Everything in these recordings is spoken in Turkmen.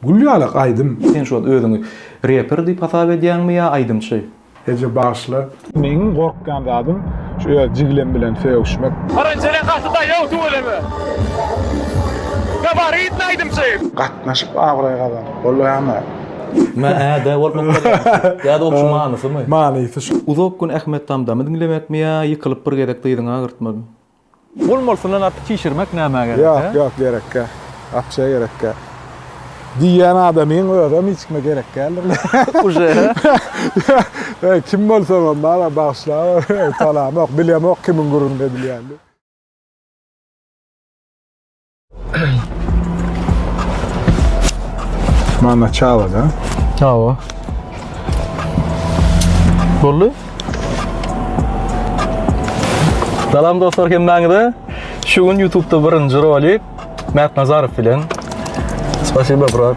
Gül ýalak aýdym. Sen şu wagt özüňi reper diýip hasap edýäňmi ýa aýdymçy? Eje bagyşla. Meň gorkýan zadym şu öz jigilem bilen sögüşmek. Paranjene gaty daýaw tüweleme. Gabaritny aýdymçy. Gatnaşyp abraý gazan. Bolýamy? Mä ä dä bolup okadýaňmy? Ýa-da ol şu manysymy? Manysy şu. Uzak gün Ahmet Tamtamy diňlemekmi ýa ýykylyp bir gezek dyzyňy agyrtmagmy? Ol molsundan artyk çişirmek nämä gerek? Ýok, ýok, gerekkä. Akşa gerekkä. Diýýän adamyň özem hiç kime gerek däldir. Uje. Eý, kim bolsaňam bar-a, bagyşlaber. Tanamok, bilemok kimiň gürrüňini edilýänini. Mana çava da. Çava. Bolly. Salam dostlar hemmäňize. Şu gün YouTube'da birinji rolik Mert Nazarow bilen. Spasibo brat.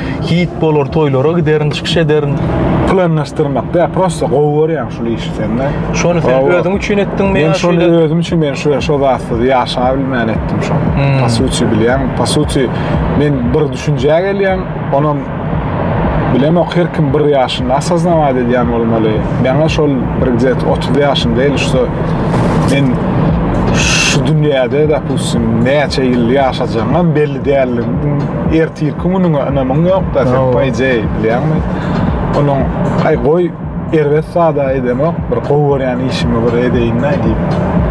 hit bolar, toýlara giderin, çykyş ederin. Planlaşdyrmak da, prosta gowy görýäň şul işi sende. Şony sen özüň üçin etdiňmi ýa? Men şony özüm üçin men şu şu zatsyz ýaşap bilmän etdim şony. Hmm. Po suti bilýän, po suti men bir düşünjä gelýän, onam bilemok her kim bir ýaşynda asaznamat edýän bolmaly. Meňe şol bir gjet 30 ýaşym däl şu men şu dünýäde de pusim näçe ýyl ýaşajagyňam belli Däldigiň ertirki günüňe ynamyň ýokda sen poejeý bilýäňmi? Onuň aý goý erbet zada edemok bir gowy görýän işimi bir edeýin-dä diýip.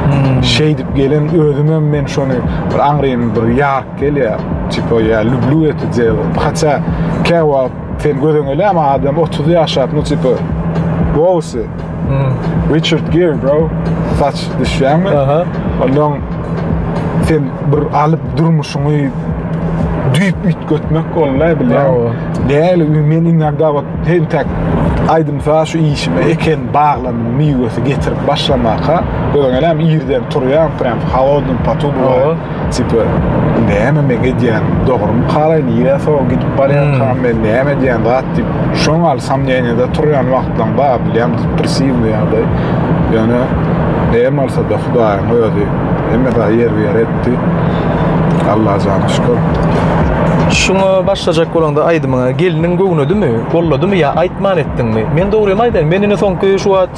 Hmm. Şeýdip gelen özüm hem men şony bir aňrym bir ýark gelýär. Tipa ýa lüblü eti diyel. Haça käwa Sen gözeňeläme adam 30 ýaşap, nu tipa Gowsy. Hmm. Richard Gere bro. Saç düşýäňmi? Aha. Ondan sen bir alyp durmuşyňy düýp üýtgetmek bolmaý bilýän. Däli men inanda bak hem tak aýdym sa şu işime eken baglan miwesi getirip başlamaka göňelem irden turýan prem halodny patu bu. Tipe, näme meň edýän, dogrymy halaýyn, ýa sowa gidip barýarkam men näme edýän zat diýip, şoň gal samnýeniýada turýan wagtlaň bar, bilýän depressiwnyý ýagdaý. Ýöne näme bolsa-da Hudaýyň özi hemme zat ýerbi-ýer etdi. Allajana şükür. Şuňa başlajak bolaňda aýdymyňa gelniň göwnedimi, golladymy ýa aýtman etdiňmi? Men dogrymy aýdaýyn, men indi soňky şu wagt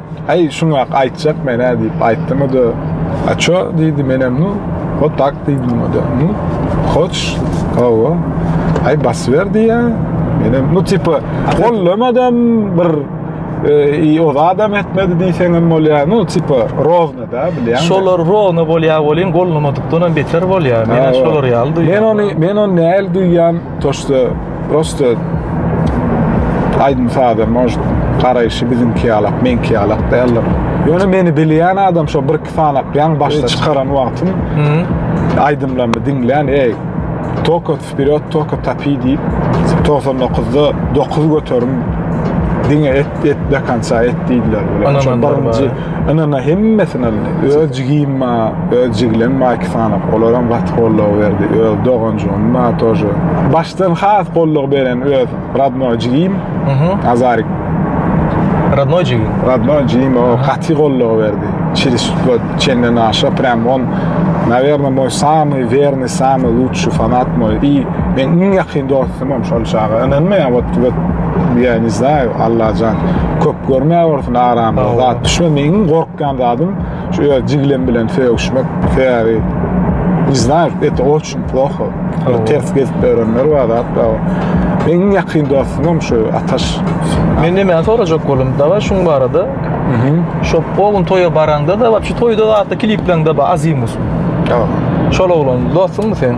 Aý, şuňak aýtjak men-ä, diýip aýtdym, o-da, A ço, diýdi, menem, nu, wot tak, diýdim, o-da, nu, hoçyş, hawa, aý, basyber, diýýä, menem, nu, tipa, gollemadam, bir, i ozadam etmedi diýseňem bolýar, nu, tipa, rozna-da, bilýäňmi? Şolar rozna bolýar welin, gollamadykdanam beter bolýar, men-ä şolar ýaly duýýan. Men ony, men ony nähili duýýan, to, şda. Prosta aýdym saza может garaýşy biziňki ýalak, meňki ýalak däldir. Ýöne meni bilýän adam şo bir iki sanak ýaň başda çykaran wagtym aýdymlaryny diňlän, eý, Toko wperýod, toko tapi diýip 99-da 9 göterim diňe et, et do konca et diýdiler. Şo birinji Ynana hemmesini aldy. Öz jigim ma, öz jiglem ma iki sany. Olaram gaty goldaw berdi. Öz doganjygym ma tože. Başdan has goldaw beren öz radnoý jigim. Azarik. Radnoý jigim. Radnoý jigim o gaty goldaw berdi. Çiris tutla çenden aşa prem on. Naverno moý samy verny samy lutşy fanat moý. I men iň ýakyn dost. Tamam şol çaga ynanmaýan ot tübet diýä ne znay Allajan köp görmä bolsun aramda zat düşme meň gorkýan zadym şu öz jiglem bilen sögüşmek sebäbi ne znay et oçun ploho ters gezip örenler bar zat bar meň ýakyn dostum şu ataş men de men sorajak bolum dawa şuň barada şu o gün toýa baraňda da şu toýda zatda klipleňde ba azimus ýok şol oglan dostum sen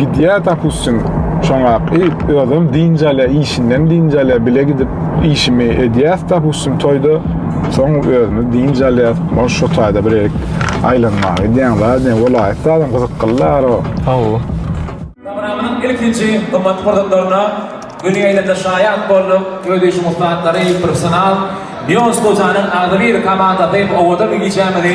Gidýär dopustim şoňa i özüm dynç alýar işinden dynç alýar bile gidip işimi edýäs dopustim toýda soň özümiz dynç alýas ol şu taýda bir aýlanmaga gidýän zat diýen welaýat zadam gyzyklylar o hawa. Programmanyň ilkinji gymmat pursatlaryna göni ýaýlymda şaýat bolduk. Öz işiň ussatlary, professional Neos Gojanyň agzybir komandasy owadan gijämizi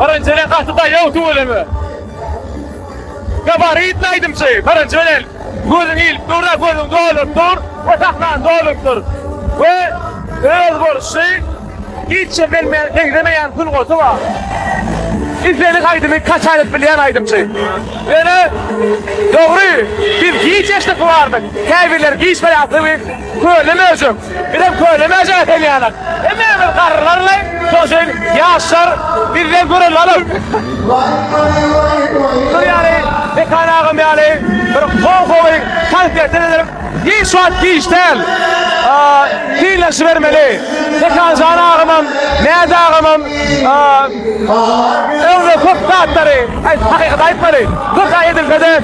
Birinji bilen gaty daýaw tüweleme. Gabaritli aýdymçy, birinji bilen gözüň ilip dur, gözüň dolup dur we sahnaň dolup dur. We özboluşly hiç kim bilmeýän, meňzemeýän sungaty bar. Islendik aýdymy kaç aýlyk bilýän aýdymçy. Ýöne dogry, biz giç eşdip bilardik. Käbirleri giç biläpdi. Köne möjek. Bizem köne möjek ekenýalyk. Hemme bir garrylarlaý, şonşeýin ýaşlar bizden gören alyp. Şular ýaly Mekan agam ýaly bir gowy-gowy konsertler edilip, hiç wagt giç däl. Synlaşybermeli. Mekanjan agamam, Mäz agamam öňde köp zatlary, hakykaty aýtmaly. Köp zat edilse-de,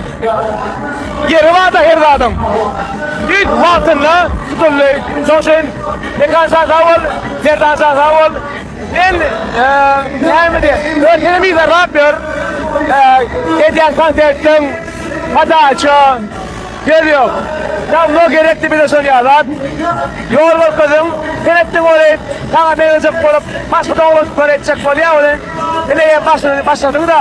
Ýeri barda her zadyň. Düýt wagtynda tutuldy. Şoň üçin Mekan şa sag bol, Merdan şa sag bol. Men näme diýen, öz seni bize rap ýör. Edýän konsertiň padaça söz ýok. Dawno gerekdi bize şol ýalat. Ýol görkeziň, sen etdiň ony, saňa meňzejek bolup başga doganlyklar etjek bolýar welin, ine ýa başladyňda.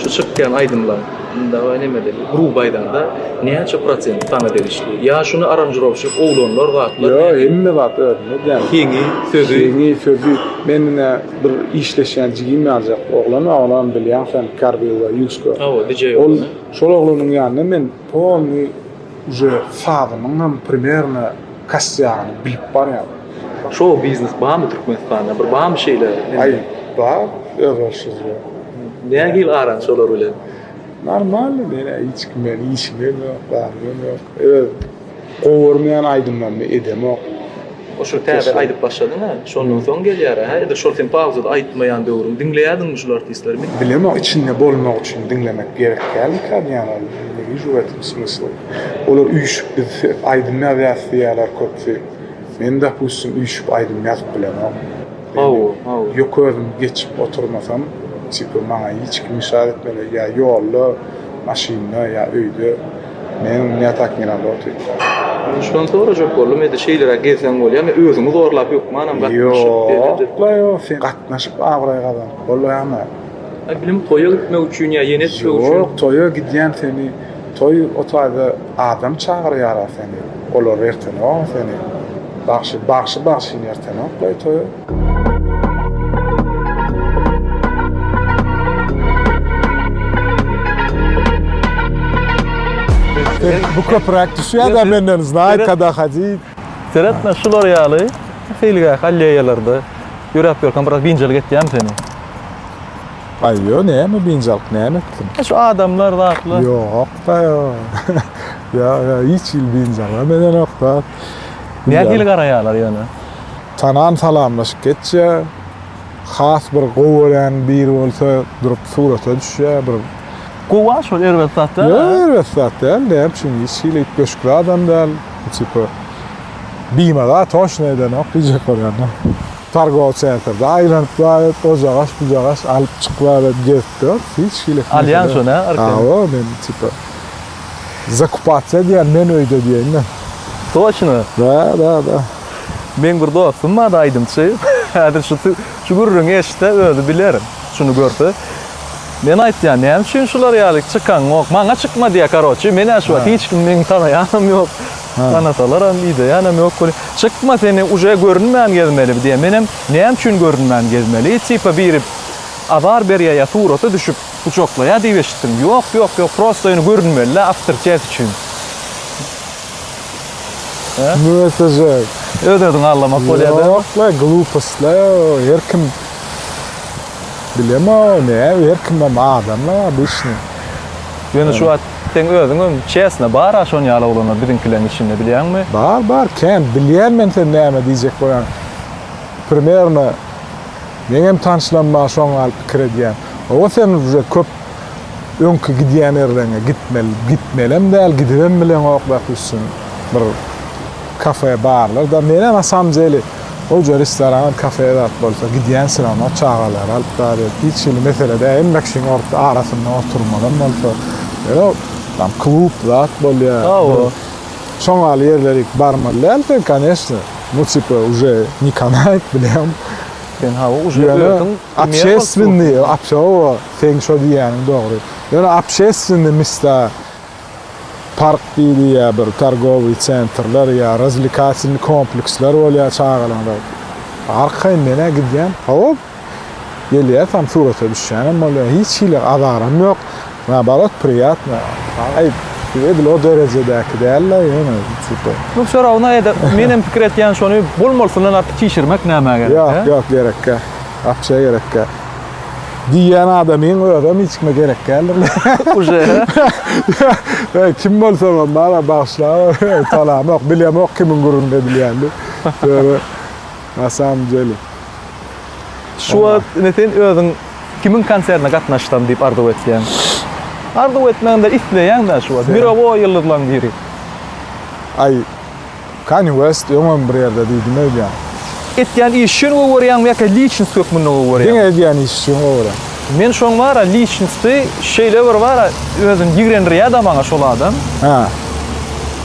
Şu çykýan aýdymlaň dagy nemeli gruby aýdanda näçe prosent saňa degişli? Ýa şuny aranžirowşik oglanlar zatlar nädip? Ýok hemme zat özüne däl. Heňi, sözi. Heňi, sözi. Men ine bir işleşýän jigim ýaljak oglan bar onam bilýäň sen Karvilla Ýusko. Hawa DJ oglan. Ol şol oglanyň ýanyna men polnyý Uje sazynyň hem primerno kasýagyny bilip barýan. Show biznes barmy Türkmenistanda bir barmy şeýle indi. Aý bar özboluşsyz ýok. Nähili aran şolar bilen. Normal menä hiç kim bilen işimem ýok barym ýok öz gowy görmeýän aýdymlarymy edemok. Oşo täze aýdyp başladyň a şondan soň gelýär a ýa-da şol sen pauzada aýtmaýan döwrüň diňleýärdiňmi şul artistleri men Bilemok içinde bolmak üçin diňlemek gerek däldikä diýýän ol ne wiju w etim smysla olar üýşüp biz aýdym ýazýas diýýärler köpsi men dopustim üýşüp aýdym ýazyp bilemok haw haw ýok özüm geçip oturmasam tipa maňa hiç kim işaret etmeli ýa ýolda maşynda ýa öýde. Meniň dünýä takminam ýokdy. Şuny sorajak boldum, indi şeýleräk gezseň bolýamy, özüňi zorlap hökmanam gatnaşyp edip. Ýok-la-ýok, sen gatnaşyp abraý gazanyp bolaýanok. Aý, bilim, toýa gitmek üçin ýa ýene toý üçin? Ýok, toýa gidýän seni, toý o taýda adam çagyrýar-a seni, olar ertenok-a seni bagşy, bagşy-bagşyny ertenok-laý toýa. Bu köpüräk düşýär da menden znaýt kada hadit. Seretme şular ýaly hilgä halleýalarda ýöräp ýörkäm biraz binjalyk etýämi seni? Aý ýo näme binjalyk näme etdim? E şu adamlar zatlar. Ýok da ýo. Ýa ýa hiç hil binjalyk medenokda. Nähili garaýarlar ýöne? Tanan salamlaşyp geçýä. Has bir gowy görýän biri bolsa durup surata düşýä bir. Gowa şol erbet zat däl. Ýok erbet zat däl näme üçin hiç hili üýtgeşik zadam däl. Tipa bimada toşna edenok diýjek bolýanda. Targow sentrde aýlanyp baryp o jagaş bu jagaş alyp çyk bary gezip dur hiç hili. Alýaň şony hä arkaýyn. Hawa men tipa zakupasiýa diýýän men öýde diýeýin de. Toşna. Da da da. Meň bir dostum bar aýdymçy. Häzir şu şu gürrüňi eşitse özi biler. Şuny görse. Men aýtýan näme üçin şular ýaly çykaňok. Maňa çykma diýýä karoçi. Men ýa şu wagt hiç kim meni tanaýanam ýok. Tanasalaram ideýänem ýok welin. Çykma seni uje görünmän gezmeli diýýä. Menem näme üçin görünmän gezmeli? Tipa biri azar berýä ýa surata düşüp gujaklaýa diýip eşitdim. Ýok ýok ýok prosta ýöne görünmeli-le awtoritet üçin. Mötejek. Öz özüňi allamak bolýar däl. Ýok la glupost la her kim bilemo ne her kim hem adam la obişni. Ýöne şu wagt seň özüň hem çesna bar a şon ýaly oglanlar biziňkileriň içinde bilýäňmi? Bar bar kän bilýän men sen näme diýjek bolýaň primerno meňem tanşlarim bar şoň ýaly pikir edýän oba sen uje köp öňki gidýän ýerleriňe gitmeli, gitmelem däl, gidibem bileňok belki üstün bir kafe barlar-da. Menem na samym deli goja restoran, kafe zat bolsa gidýän syrama çagalary alyp bar ýok. Hiç hili mesele däl. Hemme kişiň orta arasynda oturmalam bolsa. Ýöne tam klub zat bolýar. Hawa. Şoň ýaly ýerlere ilki barmaly däl sen, koneşne. Bu tipa uje ne kanait bileň. Sen hawa uje özüň. Obşeswennyi, obşowo, seň şo diýýäniň dogry. Ýöne obşeswennyi mista, park diýdi ýa bir targowyý sentrler ýa razwlikasilnyý kompleksler bolýar çagalaňda. Arkaýyn men-ä gidýän, hop, gelýär, tam surata düşýänem bolýar. Hiç hili azaram ýok. Naoborot priýatno. Aý, edil o derejedäki däl-de ýöne tipa. Nu wsё rawno edep. Men hem pikir etýän şony bolmalysyndan artyk çişirmek nämä gerek, he? Ýok, ýok, gerekkä. Wapşe gerekkä. Diýýän adamyň özem hiç kime gerek däldir. Uje, he? Kim bolsagam bar-a, bagyşlaber. Salamok, bilemok kimiň gürrüňini edilýänini. Ýöne. Na samym deli. Şu wagt ine sen özüň kimiň konsertine gatnaşsam diýip arzuw etýäň? Arzuw etmäňde isleýäňdä şu wagt. Mirowoý ýyldyzlaň biri. Aý Kanye West öňem bir ýerde diýdim öýdýän. Etýän iş üçin gowy görýäňmi ýa-da liçnost hökmünde gowy görýäňmi? Diňe edýän iş üçin gowy görýän. Men şoň bara liçnosty şeýle bir bara özüni ýigrendirýäda maňa şol adam. Hä.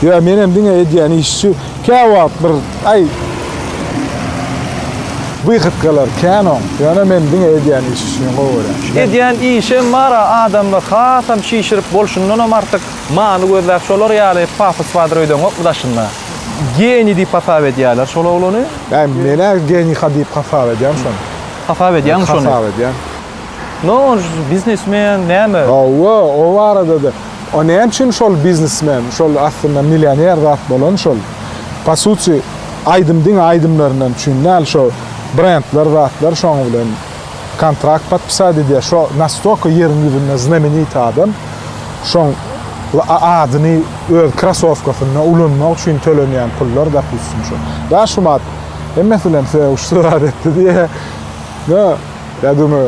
Ýa menem diňe edýän iş üçin. Käwagt bir aý wyhytkalar kän oň. Ýöne men diňe edýän işi üçin gowy görýän. Edýän işem bar-a, adamlar hasam şişirip bolşundanam artyk many gözläp şolar ýaly pafos bardyr öýdeňokmy daşynda. Geniý diýip hasap edýärler şol oglany. Bä, men-ä geniý-ha diýip hasap edýän şony. Hasap edýäňmi şony? Hasap edýän. Noş biznesmen näme? Hawa, o barada-da. O näme üçin şol biznesmen, şol aslynda millioner zat bolan şol. По сути, aýdym diňe aýdymlaryndan üçin däl, şo brendler zatlar şoň bilen kontrakt podpisat edýär. Şo nastolka ýeriň ýüzünde znamenit adam. Şoň adyny öz krasowkasynda ulanmak üçin tölenýän pullar dopustim şo. Daşumat hemmesi bilen söýüşdi zat etdi diýýä. Ýa döme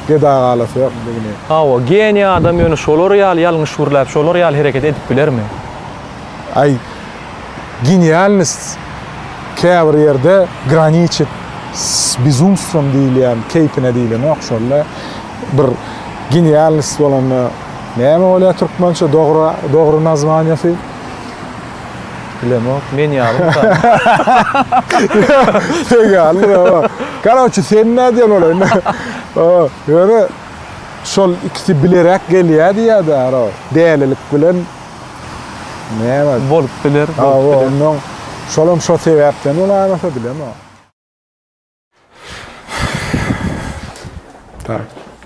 get agalasy ýok indi gine. Hawa, geniý adam ýöne şolar ýaly ýalňyş gürläp, şolar ýaly hereket edip bilermi? Aý, genialnost käbir ýerde graniçit s bezumstwom diýilýän keýpine diýlenok şolla. Bir genialnost bolanda näme bolýar türkmençe dogry dogry nazwaniýasy? Bilemok, men ýalymy sa. Sen ýalydyr hawa. Karoçi sen nädýän ola indi. Hawa, ýöne şol ikisi bileräk gelýä diýýäda ara. Dälilik bilen näme? Bolup biler, bolup biler. Hawa, ondan şolam şo sebäpden bolarmyka bilemok. Tak.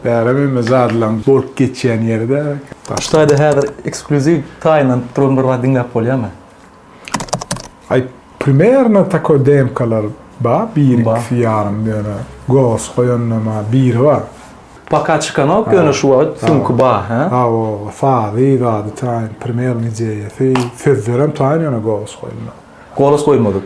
Bärim emme zadlaň bolup geçýän ýeri de. Hytaýda häzir ekskluziw taýyndan tutulan bir zat diňläp bolýarmy? Aý, primerno takoý demkalar bar, biri ikisi ýarym ýöne golos goýanda ma biri bar. Paka çykanok ýöne şu wagt süňki bar, hä? Hawa, sazy, zady taýyn, primerno ideýasy, sözlerem taýyn ýöne golos goýulmadyk. Golos goýulmadyk.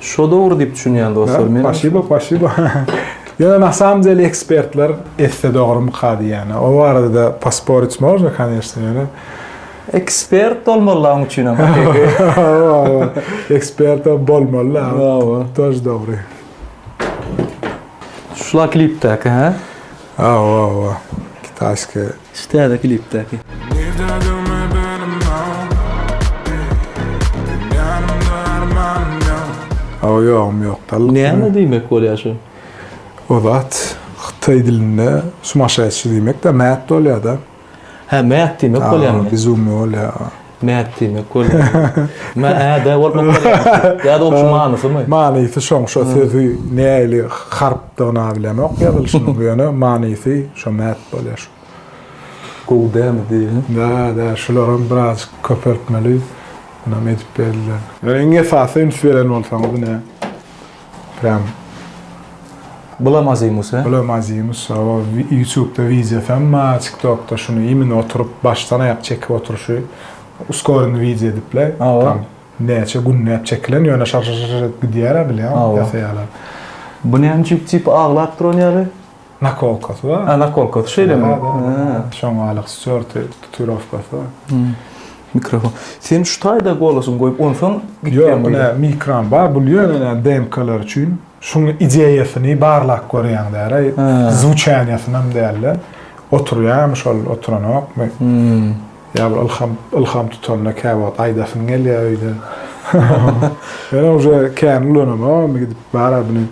Şo dogry diýip düşünýän dostlar men. Paşibo paşibo. Ýöne na samom dele ekspertler etse dogrumyka diýýäne. O barada posporit można kaneşne ýöne. Ekspert bolmaly laň üçinem hakyky. Hawa hawa. Ekspert bolmaly la. Hawa. Tož dogry. Şula klipdäki hä? Hawa hawa. Kitaýski. Şu täze klipdäki. Nirde döwme belim ýok Ey ýanymda armanym ýok. Hawa ýogum ýok dal. Näme diýmek bolýar şu. O zat hytaý dilinde sumaşaýşy diýmek da mät bolýada. Hä mät diýmek bolýamy. Hä bizummy bolýa. Mät diýmek bolýar. Mä-ä-dä bolup okaýarmyş. Ýa-da ol şu manysymy? Manysy şoň, şo sözi nähili harpdygyna bilemok ýazylyşynyň, ýöne manysy şo mät bolýar şu. Gowy dämi diýip. Dä-dä, şularam birazajyk köpeltmeli, munam edip berler. Ýöne iň esasy üns beren bolsaňyz ine. Prýam Bulam Azimus e. Bulam Azimus o ýutubda wideo sam ma tiktokda şuny imini oturyp başdan aýak çekip oturyşy uskorini wideo edipla tam näçe günläp çekilen ýöne şar şar şar edip gidýär a bilýaňyz ýasaýalar. Bu näme üçin tipy aglap duran ýaly. Nakolkasy bar. Ha, nakolkasy şeýlemi? Şoňalyk stýorty, tatuirowkasy bar. Mikrofon. Sen şu taýda golasyňy goýup, onsoň gitýäňmi? Ýok, ine, mikram bar. Bul ýöne DMK-lar üçin. Şuň ideýasyny barlap görýäň däl-ä. Zwuçaniýasynam däl-de. Oturýarmy şol, oturanokmy? Ýa bir ylham, ylham tutanda käwagt aýdasyň gelýär öýde. Ýöne uje kän ulanamok, indi gidip bar-a bini.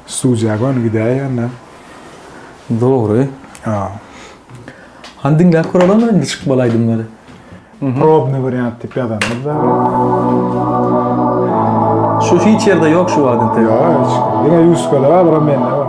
Studiýa göni gidäýýärler. Dogry. A. Hany diňläp göreliň indi çykmaly aýdymlary. Probny wariant diýip ýazanyňyzda. Şu feature-da ýok şu wagt entek. Ýok hiç. Diňe Ýuskada bar, bir mende bar.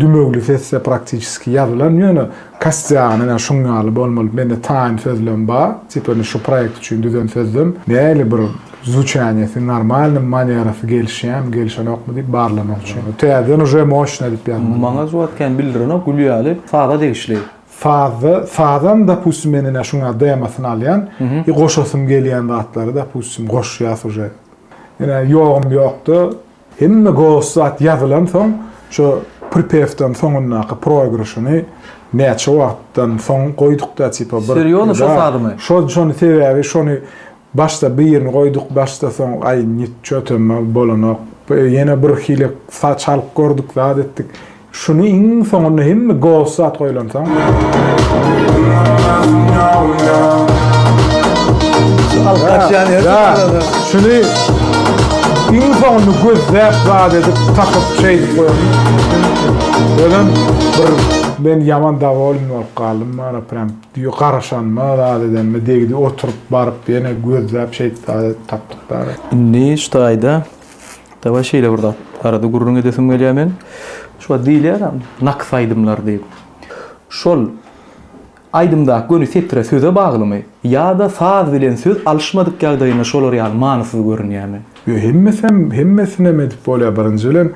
Dümewli sesde praktiçeski ýazylan, ýöne kastýagynda näme şuň ýaly bolmaly, mende taýyn sözlem bar, tipa indi şu proýekt üçin düzen sözlem, nähili bir zwuçaniýesi, normalnymy, manerasy gelişýärmi, gelişenokmy diýip barlamak üçin. Täzeden uje moşne edip ýazmaly. Maňa zowat kän bildirenok, Gülýaly saza degişli. Sazda, sazam dopustim men ine şuň ýaly demosyny alýan, i goşasym gelýän zatlary dopustim goşýas uje. Ine ýogum ýokda Hemme gowy zat ýazylansoň, şu pripewdan soňundaky proigryşyny näçe wagtdan soň goýdukda tipa bir. Serýozno şo sazymy? Şo şony sebäbi şony başda birini goýduk başda soň aý nitço tömme bolanok ýene bir hile çalyp gördük zat etdik Şuny iň soňunda hemme ghost zat goýlansoň. Şuny iň soňunda gözläp zat edip tapyp şeýdip goýan. Özüm bir men ýaman dawolyn bolup galdym bana prem diýo garaşanyma zat edenime degdi oturyp baryp ýene gözläp şeýdip zat edip tapdyk bar. Indi şu taýda Dawaý şeýle bir zat barada gürrüň edesim gelýär men. Şu wagt diýilýär-ä naks aýdymlar diýip. Şol aýdymdaky göni setre söze baglymy ýa-da saz bilen söz alyşmadyk ýagdaýynda şolar ýaly manysyz görünýärmi? Ýok hemmesem hemmesinem edip bolýar birinji bilen.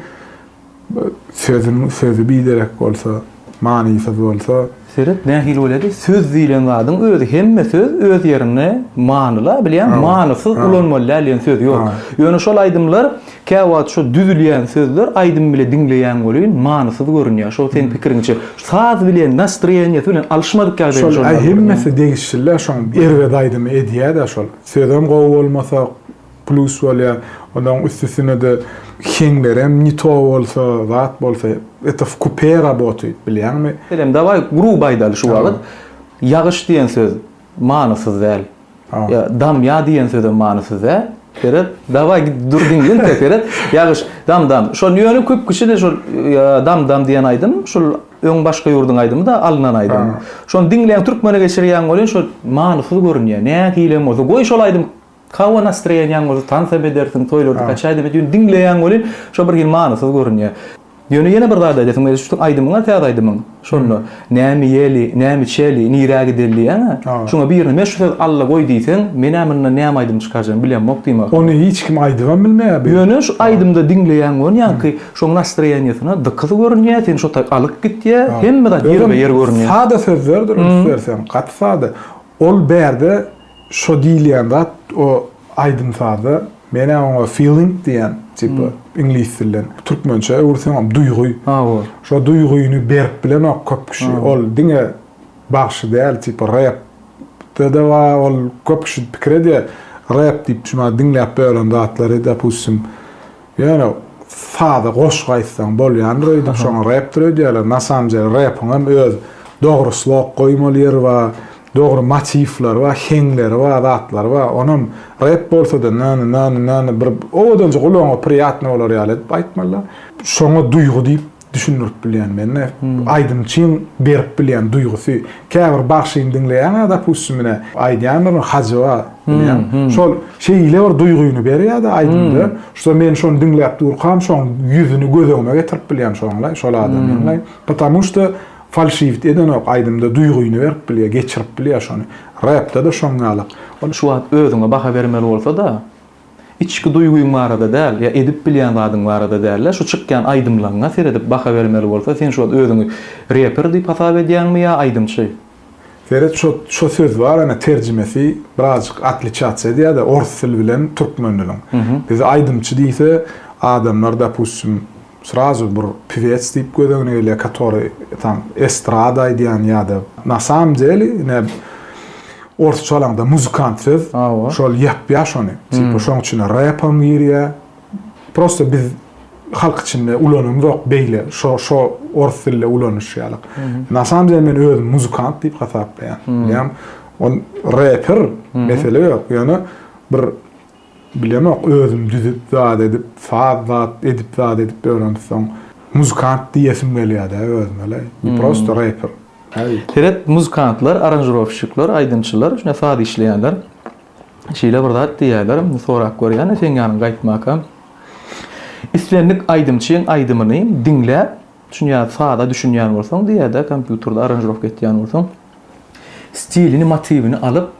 Sözüň sözi biderek bolsa, manysyz bolsa. Seret nähili bolýady? Söz diýlen zadyň özi hemme söz öz ýerinde manyly-a bilýäň, manysyz ulanmaly däl diýen söz ýok. Ýöne şol aýdymlar käwagt şo düzülýän sözler aýdym bile diňleýäň welin manysyz görünýär. Şo seň pikiriňçe saz bilen, nastroýeniýesi bilen alyşmadyk ýagdaýda şony Şol hemmesi degişli-dä şoň erbet aýdymy edýä-dä şol. Sözem gowy bolmasa. Plus bolýar. Onuň üstüsinede heňlerem ne to bolsa, zat bolsa, eto w kupe rabotuýt, bilýäňmi? Senem, dawaý, gruby aýdaly şu wagt. Ýagyş diýen söz manysyz däl. Ýa damýa diýen sözem manysyz däl. Seret, dawaý, git dur diňle inte, seret. Ýagyş, dam, dam. Şol ýöne köp kişi-de şol dam, dam diýen aýdym, şol öň başga ýurduň aýdymy-da, alnan aýdym. Şony diňleýän türkmene geçirýän welin şol manysyz görünýär. Nähilem bolsa, goý şol aýdym. Hawa nastroýeniýaň bolsa tansam edersiň, toýlarda kaçaýdam edýän, diňleýäň welin şo bir hili manysyz görünýär. Ýöne ýene bir zat aýdasyň gelýär, şu seniň aýdymyň bar täze aýdymyň, şonda, Näme ýeli, näme içeli, nirä gideli diýýäň-ä, şoňa birine men şu söz Alla goý diýseň, men-ä mundan näme aýdym çykarjagym bilemok diýmek ahyryn. Ony hiç kim aýdybam bilmeýär bi. Ýöne şu aýdymda diňleýäň welin ýaňky şoň nastroýeniýasyna dykyz görünýär, seni şo taýy alyp gitýär, hemme zat ýerbe-ýer görünýär. Özem sada sözlerdir üns berseň, gaty sada. Ol bärde Şo diýilýän zat o aýdym-sazda men-ä oňa feeling diýýän, tipa, iňlis dilden. Türkmençä öwürseňem duýgy. Habar. Şo duýgyny berip bilenok köp kişi. Ol diňe bagşy däl, tipa, rep de-de bar. Ol köp kişi pikir edýär, rep diýip, şuny diňläp bölen zatlary, dopustim, Ýöne saza goşgy aýtsaň bolýandyr öýdüň şoňa repdir öýdýärler na samym dele repiňem öz dogry slok goýmaly ýeri ba dogry motiwleri ba heňleri ba zatlary ba onam rep bolsada nana nana nana bir owadanja gulagyňa priýatny bolar ýaly edip aýtmalyda şoňa duýgy diýip düşündirip bilýän mende aýdymçyň berip bilýän duýgusy käbir bagşyny diňleýäňä dopustim ine aýdýandyr hajyba bilýän şol şeýle bir duýgyny berýärdi aýdymda şo men şony diňläp durkam şoň ýüzüni göz öňüme getirip bilýän şoňlaý şol adamyňlaý потому что falşiwit edenok aýdymda duýgyny berip bilýär geçirip bilýär şony repde de şoň ýaly şu wagt özüňe baha bermeli bolsada Içki duýgyň barada däl, ýa edip bilýän zadyň barada dälde, şu çykýan aýdymlaňňa seredip baha bermeli bolsa, sen şu wagt özüňi reper diýip hasap edýäňmi ýa aýdymçy? Seret şo şo söz bar ene terjimesi birazjyk otliçatsiýa edýärde ors dili bilen türkmen diliň. Bizi aýdymçy diýse adamlar dopustim Srazu bir piwets diýip göz öňüne gelýär, katory tam estrada aýdýan ýa-da na samym deli ine orsça alaňda muzykant söz. Şol ýapýar şony. Tipa şoň içine repam girýär. Prosta biz halk içinde ulanamzok beýle şo şo ors dilde ulanyşýarlyk. Na samym deli men özüm muzykant diýip hasaplaýan. Bilýän ol reper mesele ýok. Ýöne bir Bilemok özüm düzüp zat edip saz zat edip zat edip öwrenipsoň muzykant diýesim gelýädä özüme le ne prosto reper. Seret muzykantlar aranžirowşikler aýdymçylar şuna saz işleýänler şeýle bir zat diýýäler indi sorap görýän seň ýanyň gaýtmaka islendik aýdymçyň aýdymyny diňläp düşünýär saza düşünýän bolsaň diýýädä kompýuterde aranžirowka etýän bolsaň. stilini, motiwini alyp,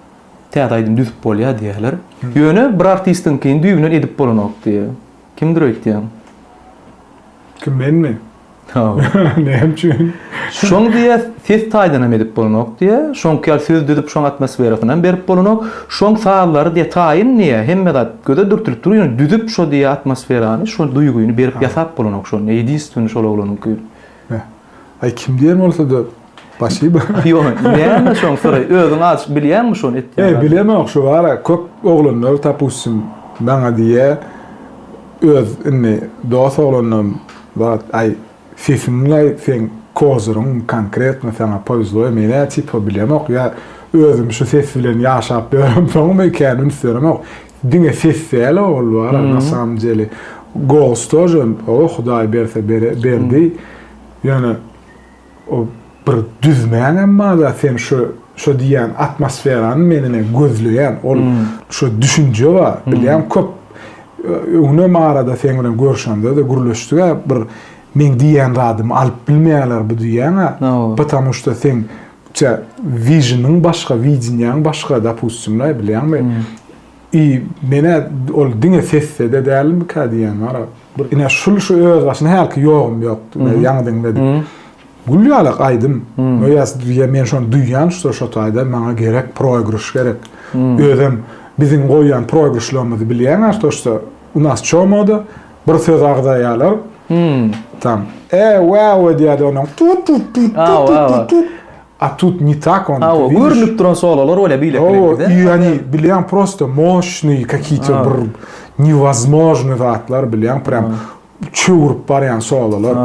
täze aýdym düzüp bolýar diýýärler. Ýöne bir artistiňkini düýbünden edip bolanok diýýär. Kimdir öýtýäň? Kim, menmi? Hawa. Näme üçin? Şoň diýýär, ses taýdanam edip bolanok diýýär. Şoňky ýaly söz düzüp, şoň atmosferasyny hem berip bolanok. Şoň sazlary diýýär, taýyn diýýär, hemme zat göze dürtülip dur, ýöne düzüp şo diýýär atmosferany, şo duýgyny berip ýasap bolanok şony, ýedinstweniý şol oglanyňky. Beh. Aý kim diýen bolsada Spasiba. Ýok, näme şoň soraý. Özüň aç bilýäňmi şony etýän Ýe, bilemok şu bara köp oglanlar tapussim maňa diýýä öz indi dos oglanlarym bar aý sesiň laý seň kozyryň konkretno saňa powezlo menä tipo bilemok ýa özüm şu ses bilen ýaşap ýöremsoňmy kän üns beremok Diňe ses däl ogul bar a nasamdjeli gols tože oba hudaý berse berdi ýöne o bir düzmäň emma da sen şu şu diýýän atmosferany menine gözleýän ol şu düşünje bar bilýän köp öňem arada seň bilen görşende de gürleşdik a bir meň diýýän zadymy alyp bilmeýäler bu diýýän a patamuşda seň Tä vizyonyň başga, wideniýaň başga, dopustim-le, bilýäňmi? I men-ä ol diňe sesde-de dälmikä diýýän, gara, bir ine şul şu özbaşyna hälki ýogym ýokdy, ine ýaňy diňledim. Gül ýalak aýdym. No ýa ýa men şony duýýan şda şo taýda maňa gerek, proýgryş gerek. Özem biziň goýýan proýgryşlarymyzy bilýäň-ä şto şda u nas çomoda Bir söz agzaýalar. Tam. E, wow edýärdi onuň. Tut tut tut tut tut tut. A tut ne tak on. Awa, görünip duran sololar bolýar beýle klipde. O, ýani bilýän prosta moşny, kakite bir nevozmojny zatlar bilýän, prem çöwürip barýan sololar.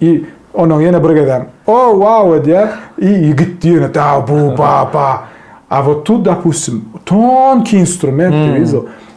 I onuň ýene bir gezem. O, wow edýär. I ýigit diýene da bu ba ba. A wot tut dopustim, tonki instrument diýiz o.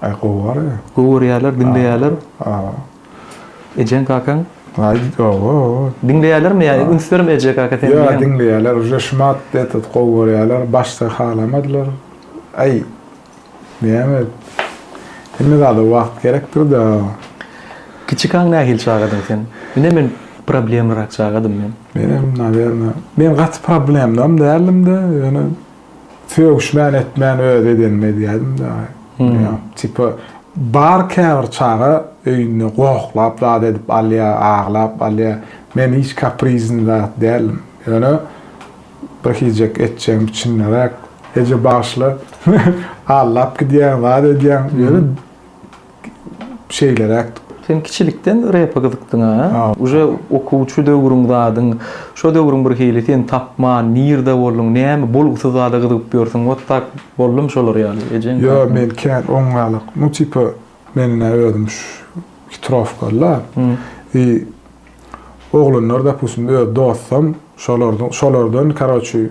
Aý gowar ya. Gowy görýärler, diňleýärler. A. Ejeň kakaň? Aý owo. Diňleýärlermi ýa üns berme eje kaka seniň diýýärmi? Ýa diňleýärler uje şumat etet gowy görýärler başda halamadylar. Aý näme hemme zada wagt gerekdir da. Kiçi kaň nähili çagadyň sen? Ine men problemlirak çagadym men. Menem nawerne men gaty problemlym däldim de ýöne Sögüşmän etmän öz edenimi edýädim dagy. Ýa, tipa bar käbir çaga öýünde gohlap zat edip alýa, aglap alýa. Men hiç kaprizn zat däldim. Ýöne bir hijek etjegim içinderäk, Eje bagyşla, aglap gidýäň, zat edýäň, ýöne şeýleräk. Sen kiçilikden repe gyzykdyňa? Uje okuwçy döwrüň zadyň, şo döwrüň bir hili sen tapman, nirde bolduň, näme bolgusyz zada gyzygyp ýörsüň, wot tak boldumy şolar ýaly ejeň kakanyň? Ýok, men kän oňňalak, nu tipa men ine özüm hitrowkaly-la, i oglanlar dopustim öz dostam şolardan, şolardan karoçi,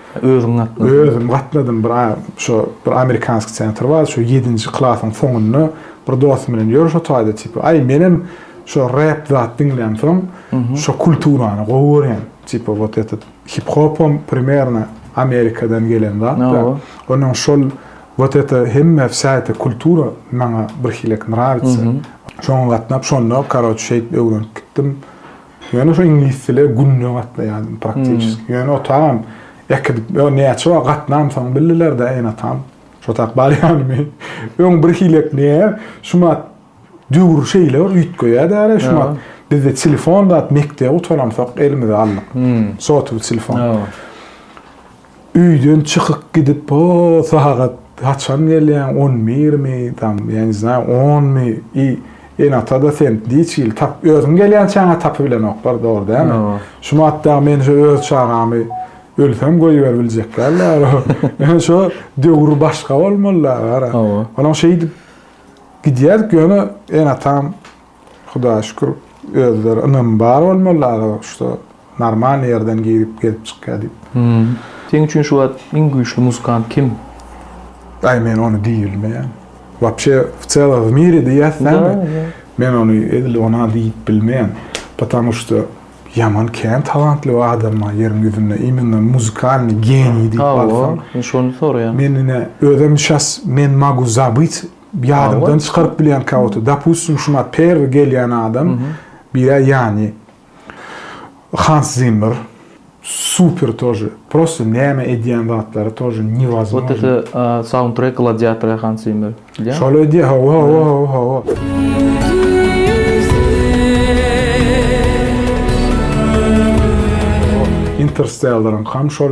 Özüň gatnadyň. Özüm gatnadym bir şo bir amerikanski sentr bar şo ýedinji klasyň soňunda bir dostum bilen ýörüş otaýda tipa aý menem şo rep zat diňlän soň şo kulturany gowy görýän tipa wot etet hip hopam primerno amerikadan gelen zat da onuň şol wot ete hemme wsa ete kultura maňa birhilek nrawitsa şoňa gatnap şonda karoç şeýdip öwrenip gitdim Ýöne şu iňlis dile günde gatnaýardym praktiçeski. Ýöne otagam äkidip, ýa näçe wagt gatnamsoň bildiler-de ene-atam, şo tak bar ýanymy. Öň birhili etmeýär, şumat döwür şeýle bir üýtgeýär-dä, şumat bizde telefon zat, mekdebi gutaramsoq elimize aldyk, sotuly telefon. Öýden çykyp gidip o sagat haçan gelýäň on birmi tam ýa ne znaýo onmy i en atada sen niç ýyl tap özüň gelýän çaňa tapybilenoklar dogry dälmi şu wagt dagy men şu öz çagamy ölsem goýber biljek dälda ýöne şo döwür başga bolmalyda gara olam şeýdip gidýärdik ýöne en atam Hudaýa şükür özleri ynamy bar bolmaly aga şuda normal ýerden girip gezip çykýa diýip. Seň üçin şu wagt iň güýçli muzykant kim? Aý men ony diý bilmeýän. Wapşe w celow w miri diýýäs dämi? Men ony edil ona diýip bilmeýän. Patamu şuda ýaman kän talantly w adam bar ýeriň ýüzünde imenna muzykalny geniý diýip alsaň. Hawa şony soraýan. Men ine özem şas men mogu zabyt Ýadymdan çykaryp bilýän käwagt. Dopustim, şumat perwi gelýän adam birä ýany. Hans Zimmer. Super tože. Prosta näme edýän zatlary tože newazmoj. Wot ete saundtrek gladiatora Hans Zimmer. Şol edýä hawa hawa hawa hawa. Interstellar-yňkam şol.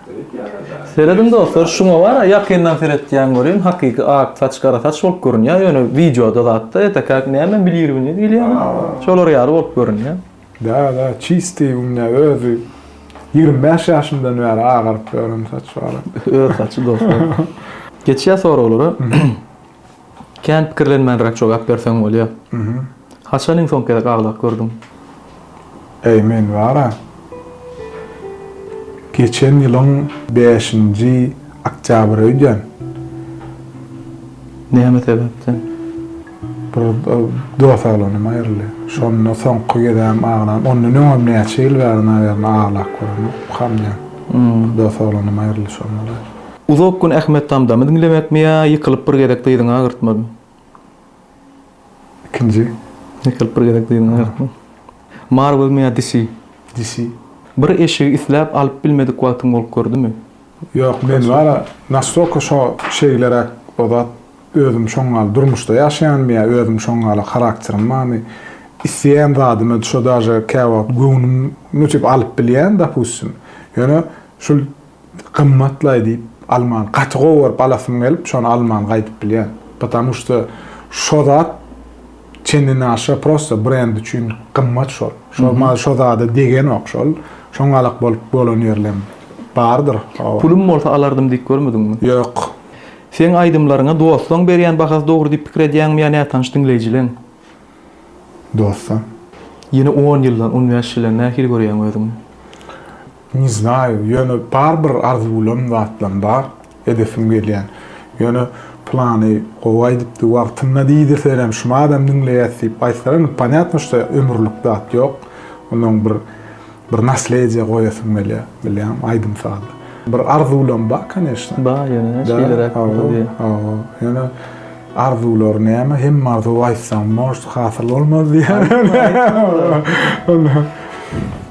Serediň dostlar şuňa wara ýakyndan seretýän görýän hakyky ak saç gara saç bolup görünýä ýöne wideoda zatda etekäk näme bilirbiňiz bilýämi şolar ýaly bolup görünýä. Da da çistiý günde özi ýigrimi bäş ýaşymdan bäri agaryp ýören saç wara. Öz saçy dostlar. Geçýä soraglara. Kän pikirlenmänräk jogap berseň bolýa. Haçan iň soňky gezek agzak gördüň? Äý men bar-a. Geçen ýylyň bäşinji oktýabry öýdýän. Näme sebäpden? Bir dos oglanym aýryldy. Şonda soňky gezegem aglan. Ondan öňem näçe ýyl bäri naberna aglap göremok, ukamdýan. Dos oglanym aýryldy şonda-da. Uzak gün Ahmet Tamdamy diňlemekmi ýa ýykylyp bir gezek dyzyňy agyrtmazmy? Ikinji. Ýykylyp bir gezek dyzyňy agyrtma. Marwelmi ýa DC? DC. Bir eşigi isläp alyp bilmedik wagtyň bolup gördümi? Ýok, men wara nastolka şo şeýleräk o zat özüm şoň ýaly durmuşda ýaşaýanmy ýa özüm şoň ýaly harakterim barmy, isleýän zadym özi şo daže käwagt göwnüm nutip alyp bilýän dopustim, ýöne şul Gymmatlaý diýip alman gaty gowy görüp alasym gelip şony alman gaýdyp bilýän. Patamu şda şo zat çendenaşa prosta brend üçin gymmat şol. Şol mal şo zada degenok şol. Şoň galak bolup bolan ýerlem bardyr. Pulum bolsa alardym diýip görmediňmi? Ýok. Seň aýdymlaryňa dostlaň berýän bahasy dogry diýip pikir edýäňmi ýa nätanyş diňleýjileň? Dostam. Ýene on ýyldan, on bäş ýyldan nähili görýäň özüňi? Ne znayou, ýöne bar bir arzuwlan zatlam bar, edesim gelýän. Ýöne plany gowy aýdypdy wagtynda diýdirselerem şumy adam diňleýäs diýip aýtsalar indi ponýatno şda ömürlik zat ýok. Onnoň bir bir naslediýe goýasym gelýär, bilýäňmi, aýdym sazda. Bir arzuwlam bar koneşno. Bar ýöne şeýleräk bolsa diýen. Hawa, ýöne arzuwlar näme, hemme arzuw aýtsaň možda hasyl bolmaz diýen. Aýtma, aýtma.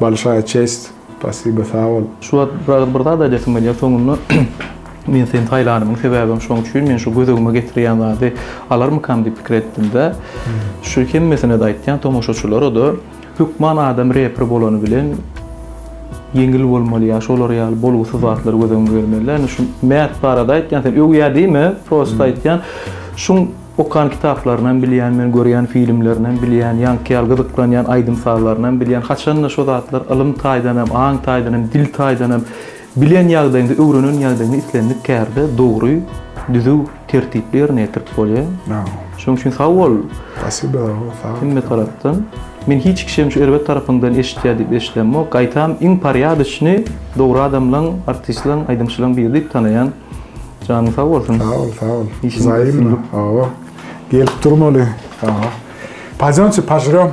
Bolşaýa çest, spasibo sag bol. Şu wagt biraz bir zat aýdasyň gelýär soňunda men seni saýlanymyň sebäbem şoň üçin men şu gözegime getirýän zady alarmykam diýip pikir etdimdä şu hemmesinede aýtýan tomaşaçylarada hökman adam reper bolany bilen ýeňil bolmaly ýa şolar ýaly bolgusyz zatlar göz öňüňe gelmelidä indi şu mät barada aýtýan sen öwýä diýme prosta aýtýan şuň Okan kitaplarynam bilýän men görýän filmlerinäm bilýän ýaňky ýaly gyzyklanýan aýdym sazlarynam bilýän haçanda şo zatlar ylym taýdanam aň taýdanam dil taýdanam bilen ýagdaýyňda öwrenen ýagdaýyňda islendik kärde dogry düzüw tertipli ýerine ýetirip bolýa şoň üçin sag bol hemme tarapdan men hiç kişem şu erbet tarapyňdan eşitýä diýip eşidemok gaýtam iň parýadyçny dogry adamlaň artistlaň aýdymçylaň biri diýip tanaýan. Janyň sag bolsun. Sag ol, sag ol. Zaýymmy? Hawa. Gelip durmaly. Hawa. Pajonçy, pažrem.